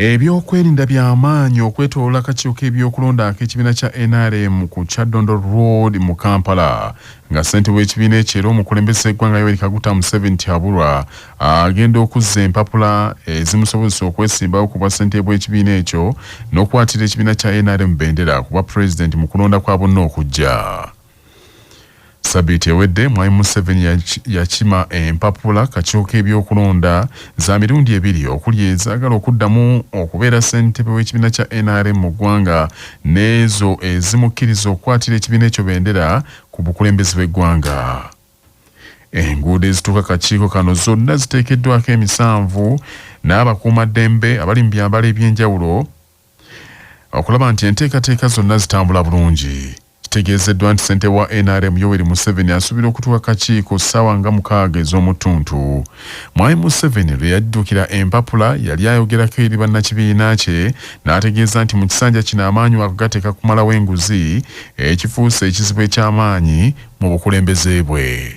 Ebyokwerinda byamaanyi okwetoloola akakiiko k'ebyokulonda ak'ekibiina kya nrm ku Kyaddondo Road mu Kampala nga ssentebe w'ekibiina ekyo era omukulembeze w'eggwanga Yoweri Kaguta Museveni Tiaburwa agenda okuzza empapula ezimusobozesa okwesimbawo ku bwassentebe bw'ekibiina ekyo n'okwatirira ekibiina kya nrm bendera ku bwapulezidenti mu kulonda kwa bonna okujja. Sabiiti ewedde Mwami Museveni yakima empapula kakyuka ebyokulonda za mirundi ebiri okuli ezaagala okuddamu okubeera ssentebe w'ekibiina kya NRM mu ggwanga n'ezo ezimukkiriza okukwatira ekibiina ekyo bendera ku bukulembeze bw'eggwanga. Enguudo ezituuka kakiiko kano zonna ziteekeddwako emisanvu n'abakuumaddembe abali mu byambalo eby'enjawulo okulaba nti enteekateeka zonna zitambula bulungi. Kitegeezeddwa nti ssentebe wa nrm Yoweri Museveni asuubira okutuuka kakiiko ssaawa nga mukaaga ez'omuttuntu. Mwami Museveni lwe yaddukira empapula yali ayogerako eri bannakibiina kye n'ategeeza nti mu kisanja kino amaanyi wakugateeka kumalawo enguzi ekifuuse ekizibu eky'amaanyi mu bukulembeze bwe.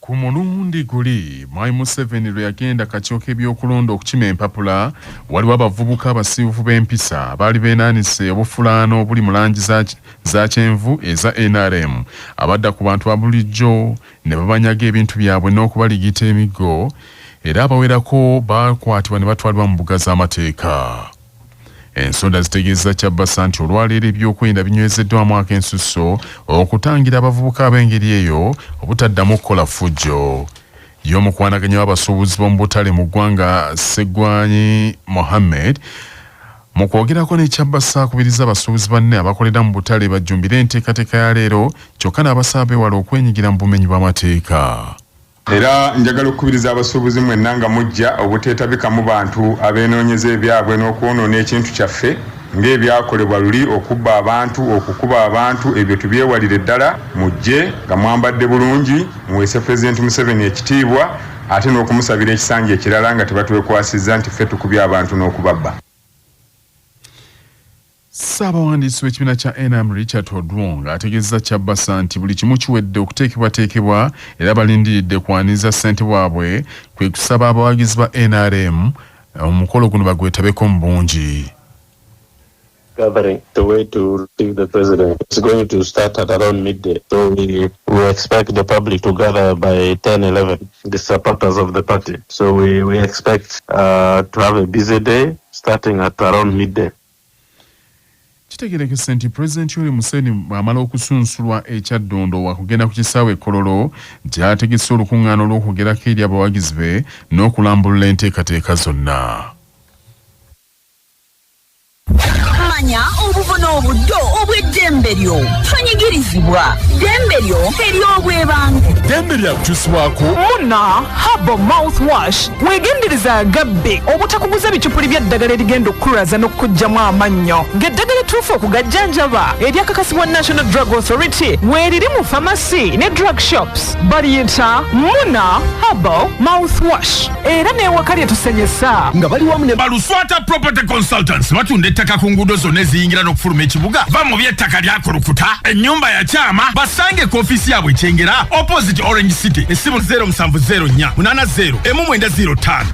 Ku mulundi guli Mwami Museveni lwe yagenda kakiiko k'ebyokulonda okukima empapula, waliwo abavubuka abasiiwuufu b'empisa abaali beenaanise obufulaano obuli mu langi za za kyenvu eza nrm abadda ku bantu abulijjo ne babanyaga ebintu byabwe n'okubaligita emiggo era abawerako baakwatibwa ne batwalibwa mu mbuga z'amateeka. Ensonda zitegeeza Kyabasa nti olwaleero ebyokwerinda binywezeddwamu akensusso okutangira abavubuka ab'engeri eyo obutaddamu okukola ffujjo y'omukwanaganya w'abasuubuzi b'omu butale mu ggwanga Ssegwanyi Mohammed mu kwogerako ne Kyabasa akubiriza abasuubuzi banne abakolera mu butale bajjumbire enteekateeka ya leero kyokka n'abasaba beewala okwenyigira mu bumenyi bw'amateeka. Era njagala okukubiriza abasuubuzi mwenna nga mujja obuteetabikamu bantu abeenoonyeza ebyabwe n'okwonoona ekintu kyaffe ng'ebyakolebwa luli okubba abantu, okukuba abantu ebyo tubyewalire ddala mujje nga mwambadde bulungi muweese Pulezidenti Museveni ekitiibwa ate n'okumusabira ekisanja ekirala nga tebatwekwasizza nti ffe tukubye abantu n'okubabba. Ssaabawandiisi w'ekibiina kya nrm Richard Odwong ategeezezza Kyabasa nti buli kimu kiwedde okuteekebwateekebwa era balindiridde kwaniriza ssente waabwe kwe kusaba abawagizi ba nrm omukolo guno bagwetabeko mu bungi. gathering the way to receive the president it's going to start at around midday so we, we expect the public to gather by 10 11 the supporters of the party so we, we expect uh, to have a busy day starting at around midday Kitegerekese nti Pulezidenti Yoweri Museveni bw'amala okusunsulwa e Kyaddondo wakugenda ku kisaawe e Kololo gy'ategese olukung'aana olw'okwogerako eri abawagizi be n'okulambulula enteekateeka zonna. Manya obuvo n'obuddo obw'eddembe lyo. Tonyigirizibwa. Ddembe lyo ery'obwebange. Ddembe lya kukyusibwako. Muna Herbal Mouthwash. Weegendereze agabbi obutakuguza bicupuli bya ddagala erigenda okukulwaza n'okukuggyamu amannyo ng'eddagala ettuufu okugajjanjaba eryakakasibwa National Drug Authority weeriri mu famasi ne drug shops baliyita Muna Herbal Mouthwash era n'ewaka lye tusenyesa nga bali wamu ne baluswata property consultants batunda ettaka ku nguudo zonna eziyingira n'okufuluma ekibuga va mu by'ettaka lyakulukuta ennyumba yakyama basange ku ofiisi yaabwe ekyengera opposite orange city essimu 0 musanvu zeero nnya munaana zeero emu mwenda zeero ttaano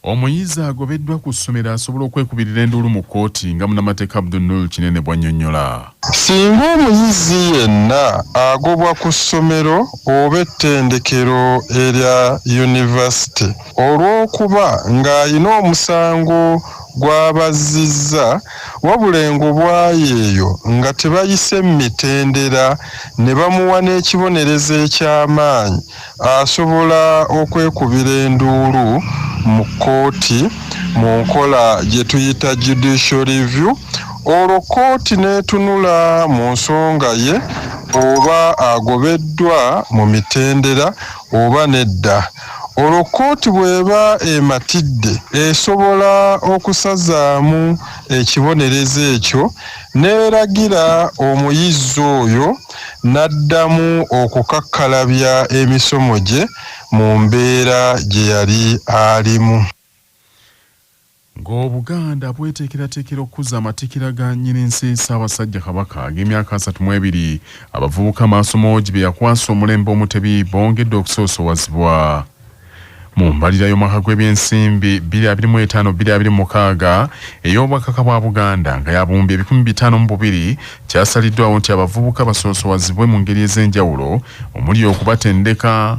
omuyizi agobeddwa ku ssomero asobola okwekubirira enduulu mu kkooti nga munamateeka abdunul kinene bwanyonyola singa omuyizi yenna agobwa ku ssomero oba ettendekero erya yunivasite olw'okuba ng'alina omusango gw'abazzizza wabula engobwayi eyo nga tebayise mu mitendera ne bamuwa n'ekibonerezo eky'amaanyi asobola okwekubira enduulu mu kkooti mu nkola gye tuyita Judicial Review olwo kkooti n'etunula mu nsonga ye oba agobeddwa mu mitendera oba nedda. Olwo kkooti bw'eba ematidde, esobola okusazaamu ekibonerezo ekyo n'eragira omuyizi oyo n'addamu okukakkalabya emisomo gye mu mbeera gye yali alimu. Ng'Obuganda bweteekerateekera okukuza amatikkira ga Nnyininsi Ssaabasajja Kabaka ag'emyaka asatu mu ebiri, abavubuka Maasomoogi be yakwasa omulembe Omutebi bongedde okusoosowazibwa. Mu mbalirira y'omwaka gw'ebyensimbi bbiri abiri mu etaano bbiri abiri mu mukaaga ey'Obwakaka bwa Buganda nga ya buwumbi ebikumi bitaano mu bubiri, kyasaliddwaawo nti abavubuka basoosowazibwe mu ngeri ez'enjawulo omuli okubatendeka,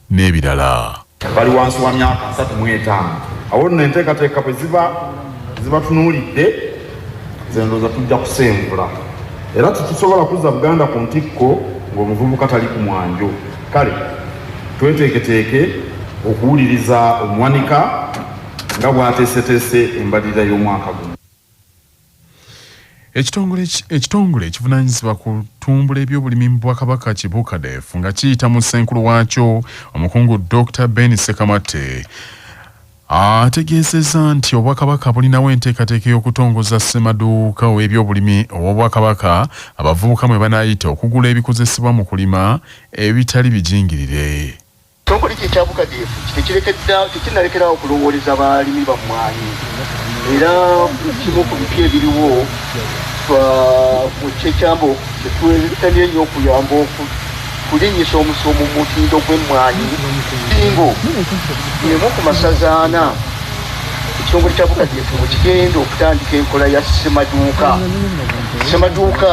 n'ebirala. bali wansi wa myaka asatu mu etaano. Awo nno enteekateeka bwe ziba zibatunuulidde, nze ndowooza tujja kusengula era tetusobola kuzza Buganda ku ntikko ng'omuvubuka tali ku mwanjo. Kale tweteeketeeke okuwuliriza omuwanika nga bw'ateeseteese embalirira y'omwaka guno. Ekitongole ekitongole ekivunanyizibwa ku tumbula ebyobulimi mu bwakabaka kibukadef nga kiyita mu ssenkulu waakyo omukungu Dr Ben Sekamate ategeezezza nti obwakabaka bulinawo enteekateeka y'okutongoza ssemaduuka ow'ebyobulimi ow'obwakabaka abavubuka mwe banaayita okugula ebikozesebwa mu kulima ebitali bijingirire. Ekitongole kye ekya bukadeefu tekinnalekera awo kulowooleza balimi ba mmwanyi era kimu ku bipya ebiriwo kyekyambo kyetuetamye nnyo okuyamba okulinnyisa omusomo mu mutindo gw'emmwanyi bingo emu ku masaza ana ekitongole kya bukadeefu kigenda okutandika enkola ya ssemaduuka ssemaduuka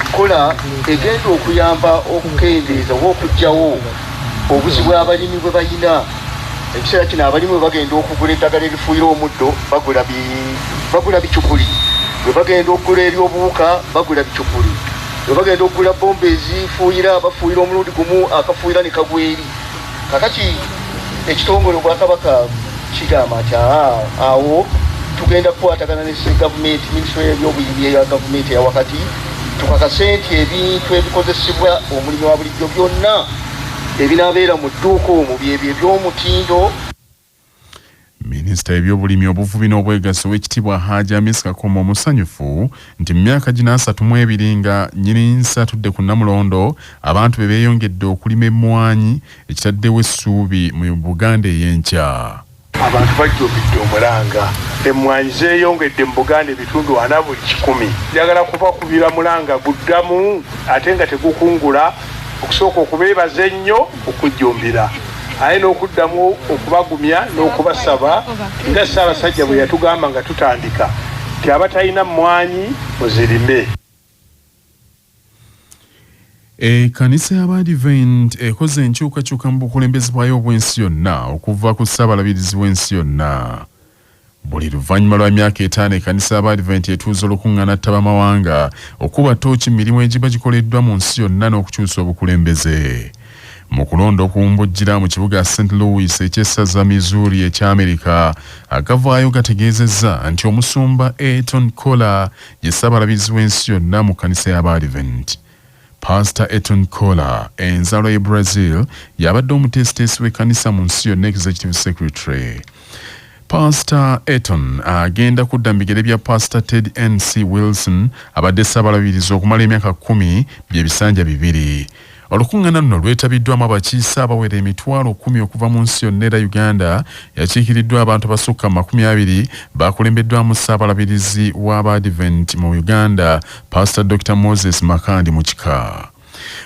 nkola egenda okuyamba okukendeeza oba okugyawo obuzi bwabalimi bwe balina ekiseera kino abalimu bwe bagenda okugula eddagala erifuuyira omuddo bagula bicupuli bwe bagenda okugula ery'obuwuka bagula bicupuli bwe bagenda okugula bomba ezifuuyira bafuuyira omulundi gumu akafuuyira ne kagweri kakati ekitongole obwakabaka kigamba nti awo tugenda kukwatagana ne gavumenti minisitule yebyobuyimi eya gavumenti eya wakati tukakase nti ebintu ebikozesebwa omulimu wa bulijjo byonna ebinabeera mu dduuka omwo byebyo ebyomutindo Minisita w'ebyobulimi obuvubi n'obwegassi ow'ekitiibwa Haaji Amis Kakoma omusanyufu nti mu myaka gino asatu mu ebiri nga nnyini nsi atudde ku Namulondo abantu be beeyongedde okulima emmwanyi ekitaddewo essuubi mu Buganda ey'enkya. Abantu bajjumbidde omulanga, emmwanyi zeeyongedde mu Buganda ebitundu ana buli kikumi. Njagala kubakubira mulanga guddamu ate nga tegukungula. okusooka okubeebaza ennyo okujjumbira aye n'okuddamu okubagumya n'okubasaba nga Ssaabasajja bwe yatugamba nga tutandika nti abatalina mmwanyi muzirime. Ekkanisa y'Abaadiventi ekoze enkyukakyuka mu bukulembeze bwayo obw'ensi yonna okuva ku Ssaabalabirizi w'ensi yonna. Buli luvannyuma lwa myaka etaano ekanisa y'Abaadiventi etuuza olukuŋŋaana ttabamawanga okukuba ttooki mu mirimu egiba gikoleddwa mu nsi yonna n'okukyusa obukulembeze. Mu kulonda okuwumbujjira mu kibuga St. Louis eky'essaza Missouri ekya Amerika, agavaayo gategeezezza nti Omusumba Ayrton Koller ye Ssaabalabirizi w'ensi yonna mu kkanisa y'Abaadiventi. Paasita Eton Kola, enzaalwa y'e Brazil, y'abadde omuteesiteesi w'ekkanisa mu nsi yonna, Executive Secretary. Paasita Eton agenda kudda mu bigere bya Paasita Ted NC Wilson abadde Ssaabalabirizi okumala emyaka kkumi bye bisanja bibiri. Olukuŋŋaana luno lwetabiddwamu abakiise abawera emitwalo kkumi okuva mu nsi yonna era Uganda yakiikiriddwa abantu abasukka mu makumi abiri baakulembeddwamu Ssaabalabirizi w'Abaadiventi mu Uganda Pastor Dr. Moses Makandi mu kika.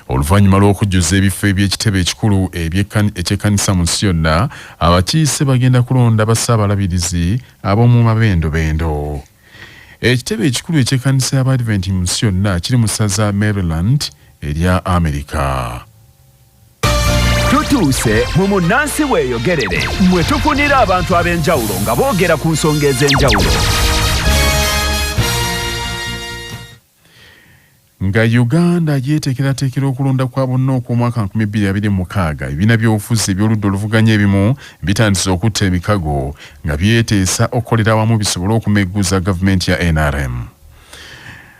Oluvannyuma lw'okujjuza ebifo eby'ekitebe ekikulu eky'ekkanisa mu nsi yonna, abakiise bagenda kulonda bassaabalabirizi ab'omu mabendobendo. Ekitebe ekikulu eky'ekkanisa y'Abadventi mu nsi yonna kiri mu ssaza Maryland erya Amerika. tutuuse mu munnansi weeyogerere mwe tufunira abantu ab'enjawulo nga boogera ku nsonga ez'enjawulo nga uganda yeeteekerateekera okulonda kwa bonna okw'omwaka 2026 ebibiina by'obufuzi eby'oludda oluvuganya ebimu bitandise okutta emikago nga byeteesa okukolera awamu bisobole okumegguza gavumenti ya nrm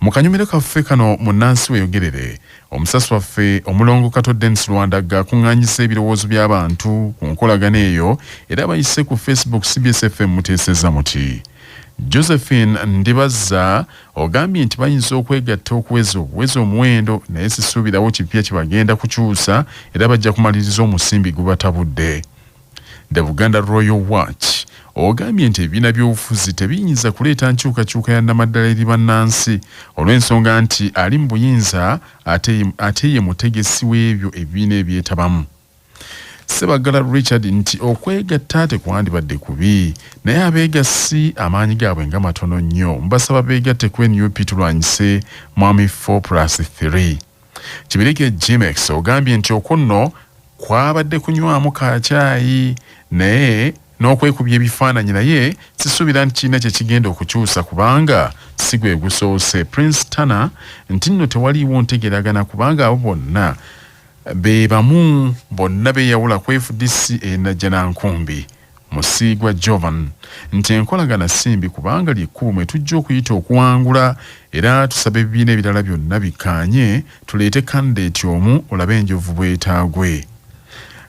mu kanyumiro kaffe kano munnansi weyogerere omusasi waffe omulongo kato denis lwandagga akuŋŋanyisa ebirowoozo by'abantu ku nkolagana eyo era bayise ku facebook cbsfm muteeseza muti josephine ndibazza ogambye nti bayinza okwegatta okuweza obuweza omuwendo naye sisuubirawo kipya kye bagenda kukyusa era bajja kumaliriza omusimbi gubatabudde The Buganda Royal Watch ogambye nti ebibiina by'obufuzi tebiyinza kuleeta nkyukakyuka ya namaddala eri bannansi olw'ensonga nti ali mu buyinza ate ye mutegesi w'ebyo ebibiina ebyetabamu Sebagala Richard nti okwegatta tekwandibadde kubi naye abeegassi amaanyi gaabwe nga matono nnyo mbasaba beegatte ku nup tulwanyise mwami 4 plus 3 Kibirige Gmex ogambye nti okunno kwabadde kunywamu kacaayi naye n'okwekubya ebifaananyi naye sisuubira nti kirina kye kigenda okukyusa kubanga si gwe gusoose Prince Tana nti nno tewaliiwo ntegeragana kubanga abo bonna be bamu bonna beeyawula ku FDC e Najjanankumbi. Musiigwa Jovan nti enkolagana si mbi kubanga ly'ekkubo mwe tujja okuyita okuwangula era tusaba ebibiina ebirala byonna bikkaanye tuleete kandideeti omu olabe enjovu bwetaagwe.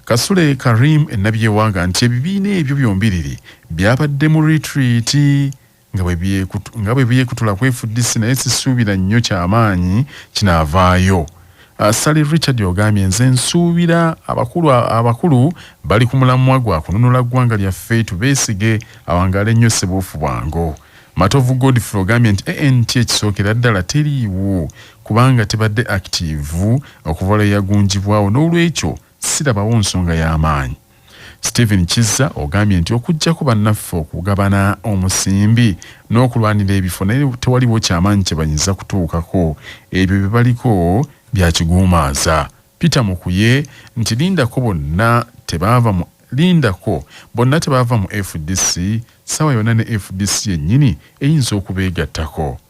Kasule Karim e Nabyewanga nti ebibiina ebyo byombiriri byabadde mu litiriiti nga bwe byekutula ku fdc naye sisuubira nnyo kyamaanyi kinaavaayo ah, sali richard ogambye nze nsuubira abakulu abakulu bali ku mulamwa gwa kununula ggwanga lyaffe tubeesige awangaale nnyo sebuufu bwango matovu godfrey ogambye nti ant ekisookera ddala teriiwo kubanga tebadde akitiivu okuva lwe yagunjibwawo n'olwekyo sirabawo nsonga y'amaanyi Stephen Kizza ogambye nti okuggyako bannaffe okugabana omusimbi n'okulwanira ebifo naye tewaliwo kyamaanyi kye bayinza kutuukako ebyo bye baliko bya kiguumaaza Peter Mukuye nti lindako bonna tebaava mu lindako bonna tebaava mu FDC ssaawa yonna ne FDC yennyini eyinza okubeegattako.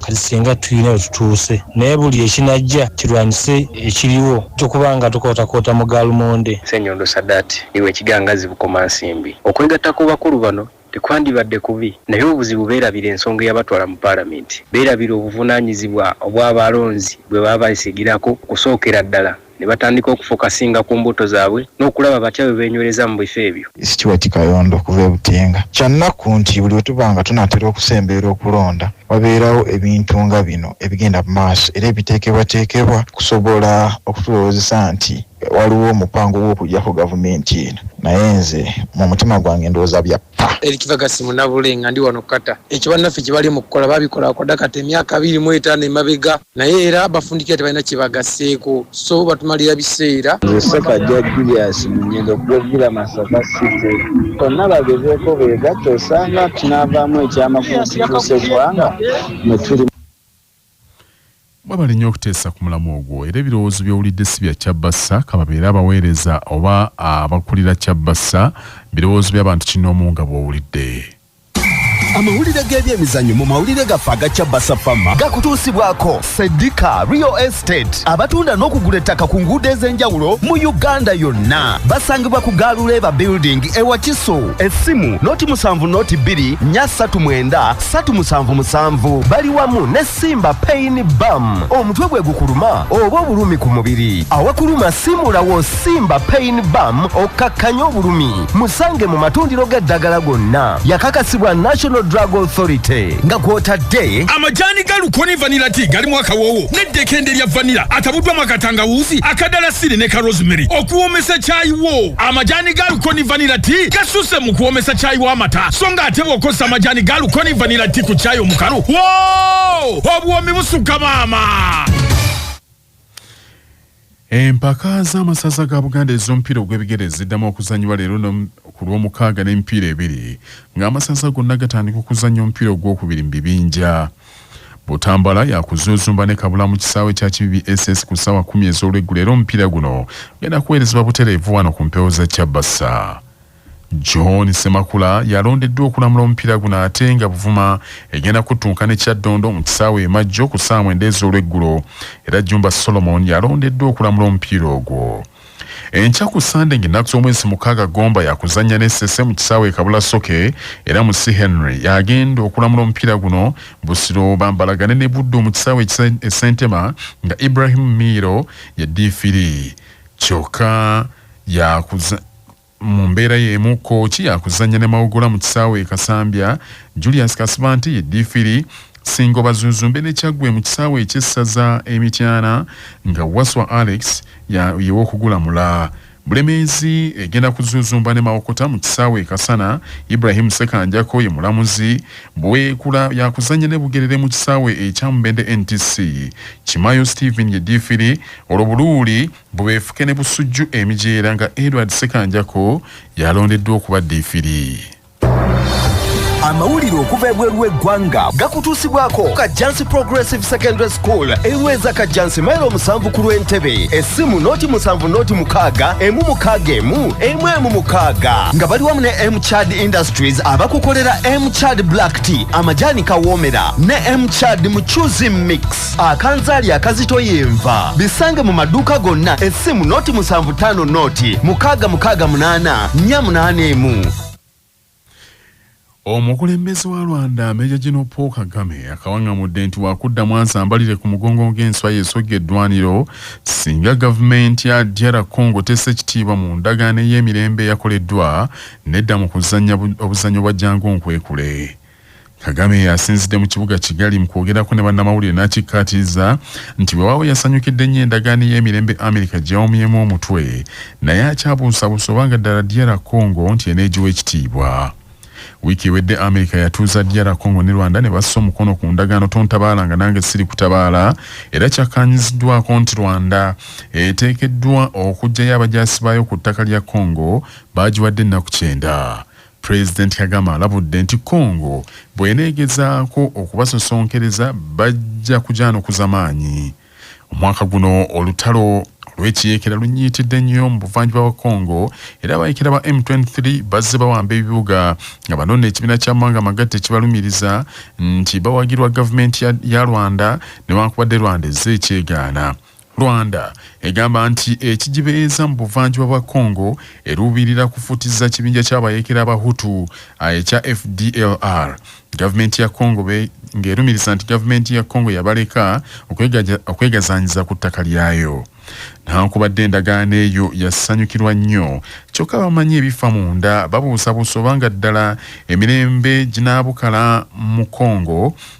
Kati singa tulina we tutuuse naye buli ekinajja kirwanyise ekiriwo tujja kuba nga tukootakoota mu gaalmonde. Ssenyondo Sadat iwe ekigangazzi Bukomansimbi, okwegatta kw'obakulu bano tekwandibadde kubi naye obuzibu beerabira ensonga eyabatwala mu Palamenti, beerabira obuvunaanyizibwa obw'abalonzi bwe baabeesigirako okusookera ddala. ne batandika okufokasinga ku mbuto zaabwe n'okulaba batya bwe beenywereza mu bifo ebyo. Stuart Kayondo okuva e Butenga, Kya nnaku nti buli lwe tuba nga tunaatera okusemberera okulonda wabeerawo ebintu nga bino ebigenda mu maaso era ebiteekebwateekebwa okusobola okutulowoozesa nti waliwo omupango gw'okuggyako gavumenti eno naye nze mu mutima gwange ndowooza bya ppa. Eric Ferguson Munabule nga ndi wano Qatar. Ekyo bannaffe kye bali mu kukola baabikola kwadda kati emyaka abiri mu etaano emabega. naye era bafundikira tebalina kyebagaseeko so batumalira biseera nze sekajja julius munyendo kugovira masaka city konna bagezeeko beegatta osanga tunaavaamu ekyamakumu kituusa eggwanga mwetuli mwebale nnyo okuteesa ku mulamu ogwo era ebirowoozo byowulidde si bya kyabbassa kababeere abaweereza oba abakulira kyabbassa birowoozo by'abantu kinoomu nga bwowulidde amawulire g'ebyemizanyo mu mawulire gaffe aga cabasa fama gakutuusibwako sedika real estate abatunda n'okugula ettaka ku nguudo ez'enjawulo mu uganda yonna basangibwa ku gaaluleeba building ewa kiso essimu noti musanvu noti bbiri nya ssatu mwenda ssatu musanvu musanvu bali wamu ne Simba pain bam omutwe gwe gukuluma oba obulumi ku mubiri awakuluma simulawo simba pain bam okkakkanya obulumi musange mu matundiro g'eddagala gonna yakakasibwa national drug authority nga kwotadde amajani ga lukoni vanila ti galimu akawoowo n'eddekende lya vanila atabuddwamu akatangawuuzi akadalasiri ne ka rosemary okuwoomesa kyayi wo amajani ga lukoni vanila ti gasusse mu kuwoomesa kyayi w'amata so nga ate bw'okozesa amajani ga lukoni vanila ti ku kyayi omukalu Whoa! obuwoomi busukka maama empaka z'amasaza ga buganda ez'omupiira ogw'ebigere ziddamu okuzannyibwa leero ku lw'omukaaga n'emipiira ebiri ng'amasaza gonna gatandika okuzannya omupiira ogw'okubiri mu bibinja butambala yakuzuuzumba ne kabula mu kisaawe kya kibibi ss ku ssaawa kumi ez'olweggulo era omupiira guno genda kuweerezebwa butereevu wano ku mpewo za kyabasa John Semakula yalondeddwa okulamula omupiira guno ate nga Buvuma egenda kuttunka ne Kyaddondo mu kisaawe e Majjo ku ssaawa mwenda ez'olweggulo era Jumba Solomon yalondeddwa okulamula omupiira ogwo. Enkya ku Ssande ng'ennaku z'omwezi mukaaga Gomba yakuzannya ne Ssese mu kisaawe e Kabula Soke era mu C Henry y'agenda okulamula omupiira guno. Busiro bambalagane ne Buddu mu kisaawe e Ssentema nga Ibrahim Miiro ye ddiifiri kyokka yakuza Mu mbeera y'emu Kooki yaakuzannya ne Mawogola mu kisaawe e Kasambya, Julius Kasibante ye ddiifiri, Ssingo Bazuuzumbe ne Kyaggwe mu kisaawe eky'essaza e Mityana nga Wasswa Alex ye w'okugulamula. Bulemeezi egenda kuzuuzumba ne Mawokota mu kisaawe e Kasana, Ibrahim Ssekanjako ye mulamuzi, Buweekula yaakuzannya ne Bugerere mu kisaawe ekya Mubende NTC, Kimayo Stephen ye ddiifiri olwo Buluuli Mbu beefuke ne Busujju emijeera nga Edward Ssekanjako y'alondeddwa okuba ddiifiri. amawulire okuva ebweru w'eggwanga gakutuusibwako kajjansi progressive secondary school eweza kajjansi mailo omusanvu ku lw'entebe essimu noti musanvu noti mukaaga emu mukaaga emu emu emu mukaaga nga bali wamu ne mchad industries abakukolera mchad black tea amajaani kawoomera ne mchad mucuzi mix akanzaali akazito yenva bisange mu maduuka gonna essimu noti 75 noti 6688 omukulembeze wa rwanda meja gino paul kagame akawaŋamudde nti wakudda mwansi ambalire ku mugongo ng'enswa yesogga eddwaniro singa gavumenti ya dr congo tesa ekitiibwa mu ndagaano ey'emirembe eyakoleddwa nedda mu kuzannya obuzannyo bwa jangu nkwekule Kagame yasinzidde mu kibuga Kigali mu kwogerako ne bannamawulire n'akikkaatiriza nti weewaawo yasanyukidde nnyo endagaano ey'emirembe Amerika gye yawomyemu omutwe naye akyabuusabuusa oba nga ddala DR Congo nti eneegiwa ekitiibwa. Wiiki ewedde Amerika yatuuza DR Congo ne Rwanda ne bassa omukono ku ndagaano tontabaala nga nange siri kutabaala era kyakkaanyiziddwaako nti Rwanda eteekeddwa okuggyayo abajaasi baayo ku ttaka lya Congo baagiwadde ennaku kyenda. Pulezidenti Kagame alabudde nti Congo bw'eneegezaako okubasosonkereza bajja kugyanukuza maanyi. Omwaka guno olutalo olw'ekiyeekera lunyiitidde nnyo mu buvanjuba bwa Congo era abayeekera ba M23 bazze bawamba ebibuga nga bano n'ekibiina ky'amawanga amagatte kibalumiriza nti bawagirwa gavumenti ya Rwanda newankubadde Rwanda ezze ekyegaana. Rwanda egamba nti ekigibeeza mu buvanjuba bwa Congo eruubirira kufutiza kibinja ky'abayekera abahutu ekya FDLR. Gavumenti ya Congo ng'erumiriza nti gavumenti ya Congo yabaleka okwegazaanyiza ku ttaka lyayo. Newankubadde endagaano eyo yasanyukirwa nnyo, kyokka bamanyi ebifa munda babuusabuusa obanga ddala emirembe ginaabukala mu Congo